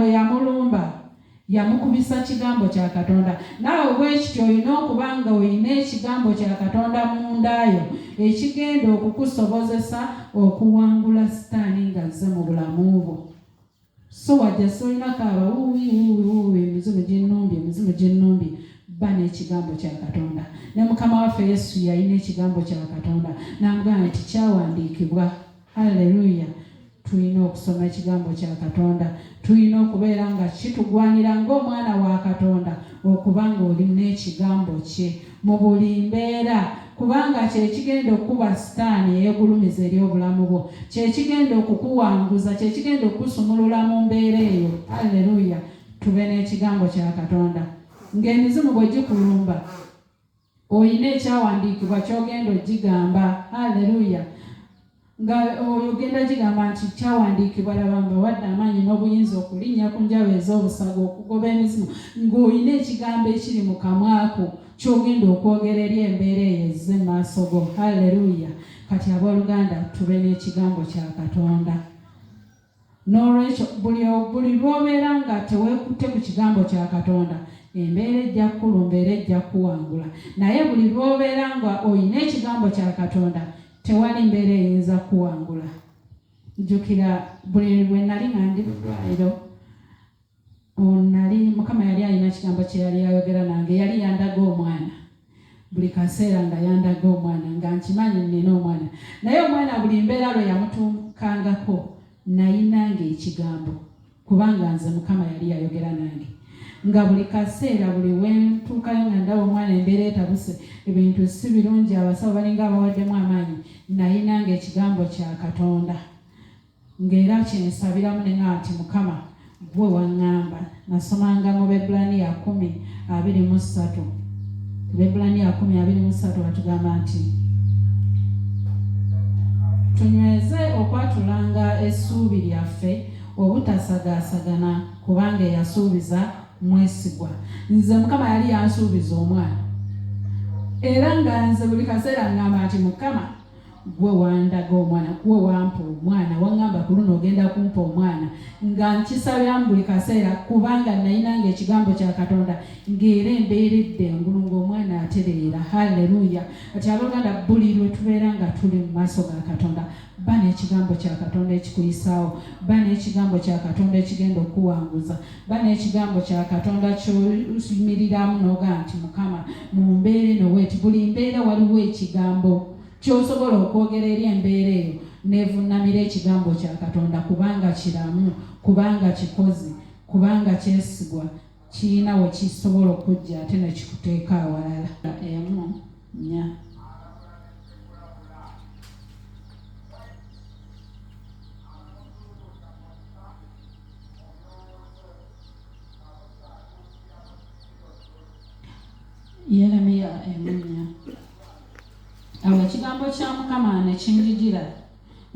bwe yamulumba yamukubisa kigambo kya katonda naawe bwekityo olina okuba nga olina ekigambo kya katonda mundaayo ekigenda okukusobozesa okuwangula sitaani nga zze mu bulamu bwo so wajjasi olinako abawuwiwuwiwuwi emizimu gyenumbi emizimu gyenumbi ba n'ekigambo kya katonda ne mukama waffe yesu yalina ekigambo kya katonda nambwa nti kyawandiikibwa Hallelujah. Tulina okusoma ekigambo kya Katonda, tulina okubeera nga kitugwanira ng'omwana wa Katonda okuba ng'olina ekigambo kye mu buli mbeera kubanga kyekigenda okukuba sitaani eyegulumiza eri obulamu bwo kyekigenda okukuwanguza kyekigenda okukusumulula mu mbeera eyo alleluya tube n'ekigambo kya katonda ng'emizimu bwe gikulumba Olina ekyawandiikibwa ky'ogenda ogigamba. Aleluya! Nga ogenda gigamba nti kyawandiikibwa, laba nga wadde amaanyi n'obuyinza okulinnya ku njaba ez'obusaga, okugoba emizimu, ng'olina ekigambo ekiri mu kamwako ky'ogenda okwogera eri embeera eyo ezze mu maaso go. Aleluya! Kati abooluganda, tube n'ekigambo kya Katonda. N'olwekyo, buli, buli lw'obeera nga teweekutte ku Kigambo kya Katonda, embeera ejja kukulumba era ejja kukuwangula. Naye buli lw'obeera nga olina Ekigambo kya Katonda, tewali mbeera eyinza kukuwangula. Njjukira buli lwe nnali nga ndi mu ddwaliro. Nali Mukama yali alina kigambo kye yali ayogera nange, yali yandaga omwana buli kaseera nga yandaga omwana nga nkimanyi nnina omwana, naye omwana buli mbeera lwe yamutuukangako nayinanga ekigambo kubanga nze Mukama yali yayogera nange nga buli kaseera buli wentuukayo nga ndaba omwana embeera etabuse ebintu si birungi abasawo balinga abawaddemu amaanyi nayinanga ekigambo kya Katonda. Ng'era kyensabiramu ne nga nti Mukama ggwe waŋŋamba. Nasomanga mu Bebbulaniya kumi abiri mu ssatu. Bebbulaniya kumi abiri mu ssatu batugamba nti tunyweze okwatulanga essuubi lyaffe obutasagaasagana kubanga eyasuubiza mwesigwa nze mukama yali yansuubiza omwana era nga nze buli kaseera ngamba nti mukama gwe wandaga omwana gwe wampa omwana waŋŋamba ku luno ogenda kumpa omwana nga nkisabyamu buli kaseera kubanga nayinanga ekigambo kya katonda ng'era embeeredde engulu ng'omwana atereera halleluya kati abaganda buli lwe tubeera nga tuli mu maaso ga katonda ba n'ekigambo kya katonda ekikuyisaawo ba n'ekigambo kya katonda ekigenda okuwanguza Ba n'ekigambo kya Katonda ky'oyimiriramu n'ogamba nti Mukama mu mbeera eno weeti. Buli mbeera waliwo ekigambo ky'osobola okwogera eri embeera eyo n'evunnamira ekigambo kya Katonda kubanga kiramu, kubanga kikozi, kubanga kyesigwa, kirina we kisobola okujja ate ne kikuteeka awalala. Emu nnya. yeremiya emunya awo ekigambo kya mukama nekinjijira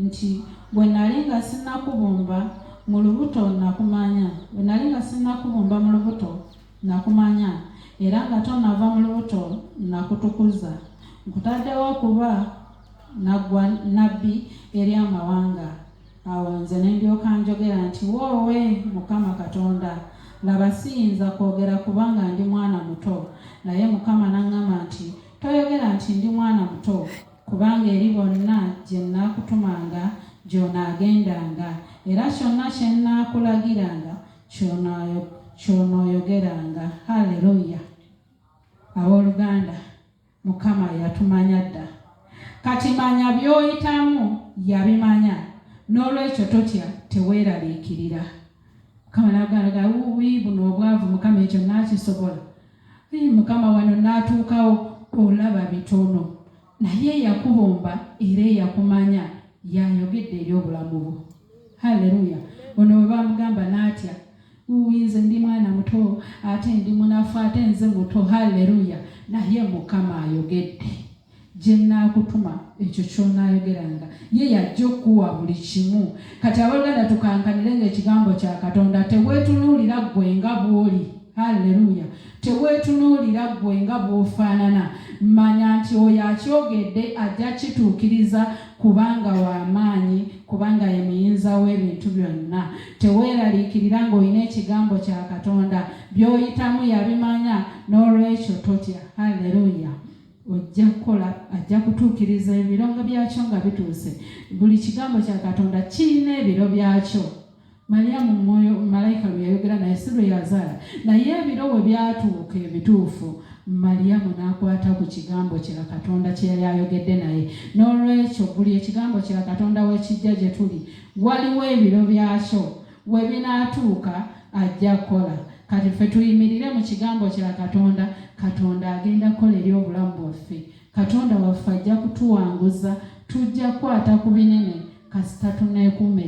nti bwe nali nga sinnakubumba mu lubuto nakumanya bwe nali nga sinnakubumba mu lubuto nakumanya era nga tonava mu lubuto nakutukuza nkutaddewo okuba nabbi eri amawanga Awo nze ne ndyoka njogera nti, Woowe, Mukama Katonda, laba, siyinza kwogera kubanga ndi mwana muto. Naye Mukama n'aŋŋamba nti, Toyogera nti, Ndi mwana muto, kubanga eri bonna gye nnaakutumanga gy'onaagendanga, era kyonna kye nnaakulagiranga ky'onooyogeranga. Haleluya, abooluganda! Mukama yatumanya dda. Kati manya by'oyitamu yabimanya. N'olwekyo totya, teweeraliikirira. Mukama n'agamba, wuuwii, buno obwavu, Mukama, ekyo nnaakisobola? Ii, Mukama, wano nnaatuukawo? Olaba bitono. Naye eyakubumba era eyakumanya y'ayogedde eri obulamu bwo. Halleluya! Ono bwe bamugamba n'atya, Uuii nze ndi mwana muto ate ndi munafu ate nze muto hallelujah naye mukama ayogedde jenaakutuma ekyo kyonaayogeranga ye yajja okukuwa buli kimu kati aboluganda tukankanire nga ekigambo kya katonda tewetunuulira ggwe nga bwoli hallelujah Teweetunuulira ggwe nga bw'ofaanana. Manya nti oyo akyogedde ajja kukituukiriza, kubanga wa maanyi, kubanga ye Muyinza w'ebintu byonna. Teweeraliikirira ng'olina Ekigambo kya Katonda. By'oyitamu yabimanya, n'olwekyo totya. Haleruya! Ojja kukola, ajja kutuukiriza ebiro nga byakyo nga bituuse. Buli Kigambo kya Katonda kirina ebiro byakyo. Malyamu mwoyo malayika lwe yayogera naye si lwe yazaala, naye ebiro bwe byatuuka ebituufu, Malyamu n'akwata ku kigambo kya Katonda kye yali ayogedde naye. N'olwekyo buli ekigambo kya Katonda we kijja gye tuli, waliwo ebiro byakyo we binaatuuka ajja kukola. Kati ffe tuyimirire mu kigambo kya Katonda, Katonda agenda kukola eri obulamu bwaffe. Katonda waffe ajja kutuwanguza, tujja kukwata ku binene kasita tuneekuuma